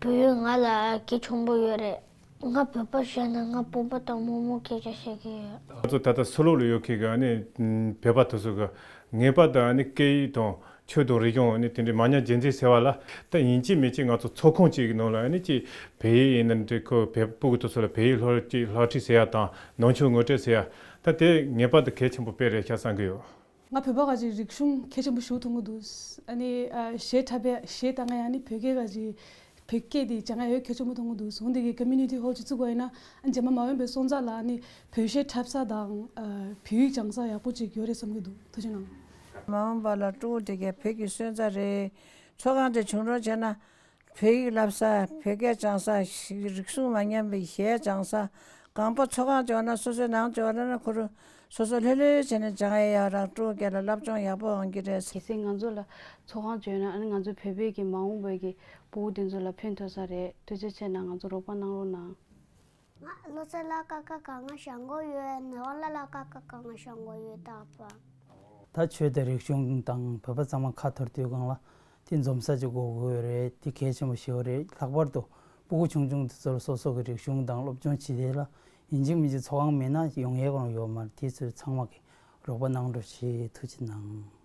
བོད་ཡུལ་ང་ལ་གལ་ཆེན་པོ་ཡོད་རེད། ང་བོད་པར་བཤད་ན་ང་སྤུན་པ་དང་དམོད་མོ་སྐད་ཆ་བཤད་གི་ཡོད། ང་ཚོ་ད་ལྟ་སུ་ལོག་ལ་ཡོད་ཁེལ་གི་བོད་པ་དོ་སོ་གི་ངེས་པ་དང་སྐད་ཡིག་དང་ཆོས་དང་རིག་གཞུང་དེ་འདྲའི་མ་ཉམས་རྗེས་འཛིན་ཟེར་བ་ལ་ད་ཡིན་གཅིག་མེད་གཅིག་ང་ཚོ་ཚོགས་ཁང་གཅིག་གི་ནང་ལ་གཅིག་བལ་ཡིག་ཡིན་ནམ་གཅིག་ཁོ་བལ་སྤུ་གི་དོ་སོ་ལ་བལ་ཡིག་ལྷོ་ཁྲིད་ལྷག་ཁྲིད་ཟེར་ཡ་དང་ནང་ཆོས་ངོ་སྤྲད་ཟེར་ཡ་ད་དེ་ངེས་པ་དང་གལ་ཆེན་པོ་དཔེ་རེད་ཤག་བསམ་གི་ཡོད། ང་བོད་པ་ག་ཅིག་རིག་གཞུང་མཁས་ཆེན་པོ་ཞུགས་ཐུང་གི་འདུག་ཞེས་འཁྲབ་པས་ཞེས་ད་ང་ཡང་ནི་བོད་སྐད་ག་ཅིག་བོད་སྐད་དེ་བྱ་ང་ཡོད་མཁས་ཆེན་པོ་ཐུང་གི་འདུག་ཟུང་འདི་གི Community Hall ཅིག་བཙུགས་པ་ཡིན་ན་རྗེས་མ་མ་འོན་པའི་སོང་ཙག་ལ་ནི་བོད་གཞས་འཁྲབ་ས་དང་བོད་ཡིག་སྦྱང་ས་ཡག་པོ་ཅིག་ཡོད་རེད་བསམ་གི་འདུག་ཐུགས་ཆེ་གནང། མ་འོན་པ་ལ་ཀྲུའུ་དེ་གའི་བོད་ཀྱི་སོན་རྩ་རེད། ཚོགས་ཁང་དེ་བྱུང་རོགས་བྱས་ན། བོད་ཡིག་བསླབ་ས་བོད་སྐད་སྦྱང་ས་ཞིག་རིག་གཞུང་མ་ཉམས་པའི་གཞས་སྦྱང་ས་གང་པོ་ཚོགས་ཁང་ལྕོག་ན་སོ་སོའི་ནང་ལྕོག་ར་ན་འཁུར། སོ་སོ་ལྷོད་ལྷོད་བྱས་ནས་སྦྱང་ཨེ་ཡག་རང་སྤྲོ་སྐད་ལ་བསླབ་སྦྱོང་ཡག་པོ་འོང་གི་རེད། གལ་སྲིད་ང་ཚོ་ལ་ཚོགས་ཁང་ལྕོད་ན་ང་ཚོའི་བོད་པའི་གི་མ་འོངས་པའི་གི་བུ་འུ་དེ་ཚོ་ལ་ཕན་ཐོགས་ས་རེད་དུས་ཚོད་ཆད་ན་ང་ཚོ་རོགས་པ་གནང་རོགས་གནང། ང་བློ་རྩེ་ལ་ཀ་ཁ་གང་ང་ཞང་མགོ་ཡོད་ནི་བ་ལ་ལ་ཀ་ཁ་གང་ང་ཞང་མགོ་ཡོད་ད་པཱ། ད་ཆོས་དད་རིག་གཞུང་དང་བོད་པ་ཚང་མ་ཁ་འཐོར་དུས་སྒང་ལ་དེ་འཛོམ་ས་ཅིག་དགོ་དགོས་རེད་དེ་གལ་ཆེན་པོ་ཞིག་རེད་ལྷག་པར་དུ་སྤུ་གུ་ཆུང་ཆུང་དེ་ཚོ་ལ་སོ་སོ་གི་རིག་གཞུང་དང་སློབ་སྦྱོང་ཇི་དེ་ལ་ཡིན་གཅིག་མིན་གཅིག་ཚོགས་ཁང་མིན་ན་ཡོང་ཡས་ཀང་ཡོད་མར་དེ་ཚོས་ཚང་མ་གི་རོགས་པ་གནང་འགྲོ་ཞེས་ཐུགས་ཆེ་གནང།